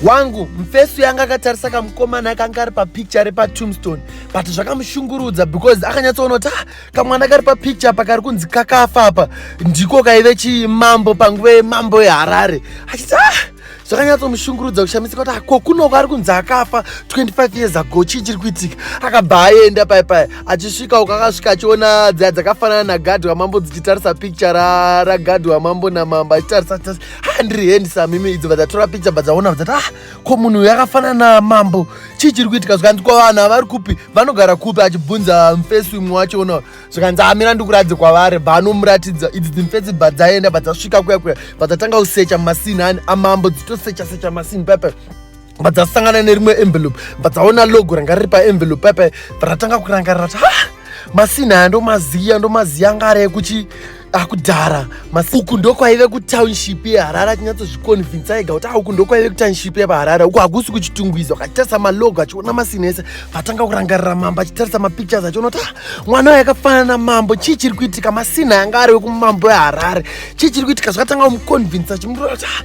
wangu mfesu yanga akatarisa kamukomana akanga ari papicture repatombstone but zvakamushungurudza because akanyatsoona kuti ah, kamwana kari papicture apa kari kunzi kakafa apa ndiko kaive chimambo panguva yemambo yeharare achiti ah, zvakanyatsomushungurudza kushamisika kuti ko kunoko ari kunzi akafa 25 years ago chii chiri kuitika akabva aenda pai pai achisvika uko akasvika achiona dziya dzakafanana nagadhi wamambo dzichitarisa picture ragadhi wamambo namambo achitarisa ha ndiri handsome imi idzo vadzatora picha vadzaona vadzati ah ko munhu uyu akafanana mambo chii chiri kuitika zvikanzi ko vanhu havari kupi vanogara kupi achibvunza mfesi umwe wacho ona zvikanzi amira ah, ndikuratidze kwavari banomuratidza idzi dzimfesi bvadzaenda bvadzasvika kuya kuya bvadzatanga kusecha masinhani amambo dzitosecha secha masinhi pepe bva dzasangana nerimwe envelope bva dzaona logo ranga riri paenvelope paipa ratanga kurangarira kuti ha masina aya ndomaziya ndomaziya anga ari ekuchi akudhara uku ndokwaive kutownship yeharare achinyatsozviconvinsa ega kuti auku ah, ndokwaive kutownship yepaharare uku hakusi kuchitungwiza ukachitarisa malogo achiona masina ese vatanga kurangarira mambo achitarisa mapictures achiona kuti ah, mwana wayo akafanana namambo chii chiri kuitika masina yanga ari wekumambo weharare chii chiri kuitika zvakatanga kumuconvinsa chimurora kuti ah,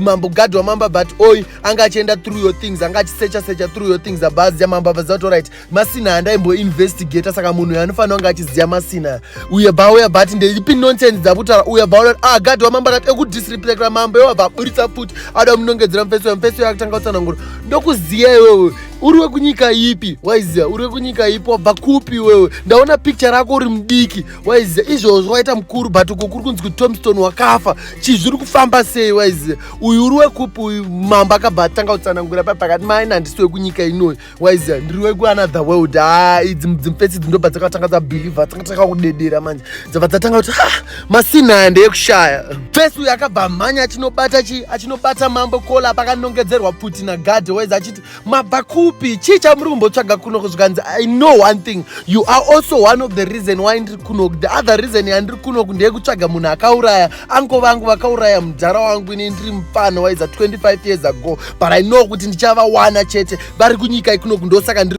mambo gadhi wamamba but oy anga achienda through your things anga achisecha secha through your things abhazi yamamba vaziva right masina handaimbo investigate saka munhu anofanira kunge achiziva masina uye bauya but ndeipi nonsense dzakutaura uye bauya ah gadhi wamamba akati ekudisreplecra mambo iwabva aburitsa futi ada munongedzera mufesi uya mufesi uya akutanga kutsanangura ndokuziva iwewe uri wekunyika ipi waiziva uri wekunyika ipi wabva kupi iwewe ndaona picture rako uri mudiki waiziya izvozvo waita mukuru but uko kuri kunzi kuti tomstone wakafa chii zviri kufamba sei waiziya uyu uri wekupi uyu mambo akabva atanga kutsanangura pa pakati maina handisi wekunyika inoyi waiziya ndiri wekuanother world ha idzi dzimfesi idzi ndobva dzakatanga dzabhilivha dzanga dzaka kudedera manje dzabva dzatanga kuti ha masina aya ndeyekushaya fesi uyu akabva mhanya achinobata chii achinobata mambo kola pakanongedzerwa pfuti nagadhe waizi achiti mabva kupi chii chamuri kumbotsvaga kuno kuzvikanzi i know one thing you are also one of the reason why ndiri kuno the other reason yandiri kuno ndeyekutsvaga munhu akauraya anko vangu vakauraya mudhara wangu ini ndiri mupfana waiza 25 years ago but i know kuti ndichavawana chete vari kunyika ikuno kundosaka ndiri